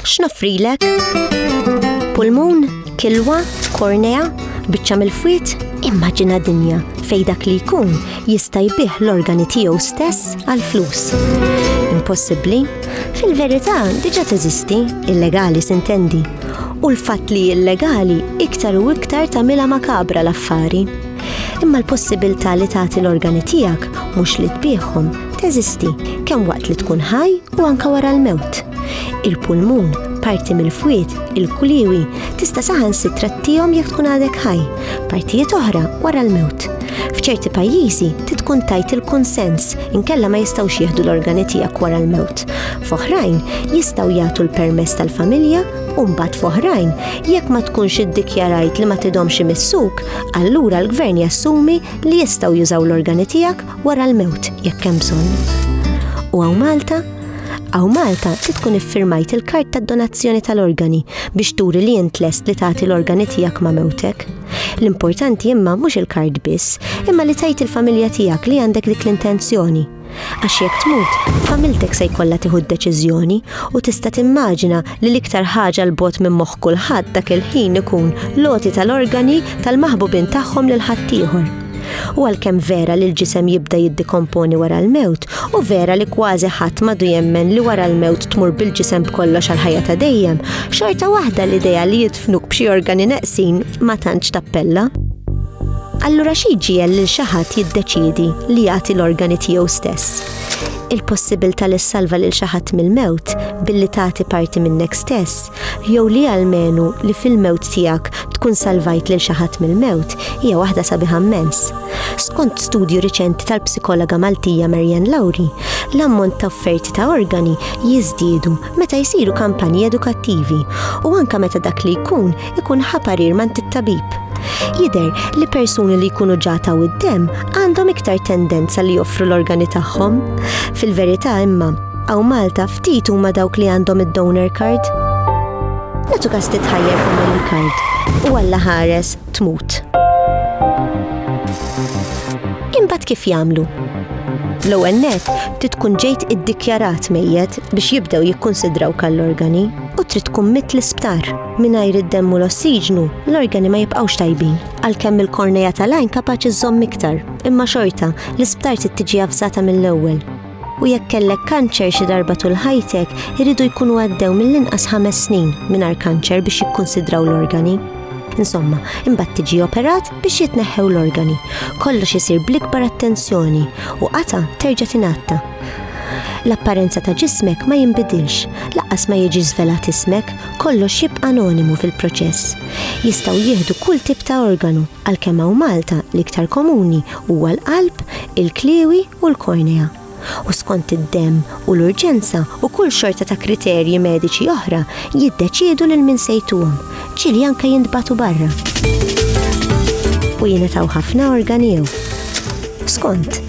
X'noffrilek? Pulmun, kilwa, kornea, biċċa mill-fwiet, immaġina dinja fej dak li jkun jista' jbih l-organi tiegħu stess għal flus. Impossibbli? Fil-verità diġa teżisti, illegali sintendi. U l-fatt li illegali iktar u iktar tagħmilha makabra l-affari. Imma l-possibilità li tagħti l-organi tiegħek mhux li tbiegħhom teżisti kemm waqt li tkun ħaj u anke wara l-mewt. Il-pulmun, parti mill-fwied, il-kuliewi, tista' saħansitra tihom jekk tkun għadek ħaj, partijiet oħra wara l-mewt. F'ċerti pajjiżi titkun tajt il-kunsens inkella ma jistgħux jieħdu l-organi tiegħek wara l-mewt. F'oħrajn jistgħu jagħtu l-permess tal-familja u mbagħad f'oħrajn jekk ma tkunx iddikjarajt li ma tidhomx imissuk, allura l-gvern jassumi li jistgħu jużaw l-organi tiegħek wara l-mewt jekk hemm bżonn. U għaw Malta Aw Malta li tkun iffirmajt il-kart ta' donazzjoni tal-organi biex turi li jint lest li tagħti l-organi tiegħek ma' mewtek. L-importanti imma mhux il-kart biss, imma li tajt il-familja tiegħek li għandek dik l-intenzjoni. Għax jekk tmut, familtek se jkollha tieħu d-deċiżjoni u tista' timmaġina li l-iktar ħaġa l bogħod minn moħħ kulħadd dak il-ħin ikun l-għoti tal-organi tal-maħbubin tagħhom lil ħaddieħor. U għalkemm vera li l-ġisem jibda jiddikomponi wara l-mewt, u vera li kważi ħadd madu jemmen li wara l-mewt tmur bil-ġisem b'kollox għal ħajja ta' dejjem, xorta waħda l-idea li jidfnuk b'xi organi neqsin ma tantx tappella. Allura xi jġiegħel lil xi ħadd jiddeċiedi li jagħti l-organi tiegħu stess? Il-possibilità li ssalva lil xi ħadd mill-mewt billi tagħti parti minnek stess, jew li almenu li fil-mewt tiegħek tkun salvajt lil xi ħadd mill-mewt hija waħda sabiħa mmens. Skont studju riċenti tal-psikologa Maltija Marian Lowry, l-ammont ta' offerti ta' organi jiżdiedu meta jsiru kampanji edukattivi u anka meta dak li jkun ikun ħa parir man tit-tabib. Jider li persuni li jkunu ġata u d-dem għandhom iktar tendenza li joffru l-organi tagħhom. Fil-verità imma, għaw Malta ftit huma dawk li għandhom id-donor card. Natu kas titħajjar fuq il-card u għalla ħares tmut. Imbagħad kif jagħmlu? L-ewwel net trid tkun ġejt iddikjarat mejjet biex jibdew jikkunsidraw kall-organi u trid tkun mit l-isptar. Mingħajr id-demm u l-ossiġnu, l-organi ma jibqgħux tajbin, għalkemm il-kornea tal-għajn kapaċi żżomm iktar, imma xorta, l-isptar trid tiġi avżata mill-ewwel. U jekk kellek kanċer xi darba tul ħajtek, iridu jkunu għaddew mill-inqas ħames snin mingħajr kanċer biex jikkunsidraw l-organi. Insomma, imbagħad tiġi operat biex jitneħħew l-organi. Kollox isir bl-ikbar attenzjoni u qata terġa' tingħatta. L-apparenza ta' ġismek ma jinbidilx, laqqas ma jiġi żvelat ismek Kollox jibqa' anonimu fil-proċess. Jistgħu jieħdu kull tip ta' organu, għalkemm hawn Malta l-iktar komuni huwa l-qalb, il-kliewi u l-kornea. U skont id-demm u l-urġenza u kull xorta ta' kriterji mediċi oħra jiddeċiedu lil min se jtuhom, ġieli anke jintbagħtu barra. U jingħataw ħafna organi jew. Skont,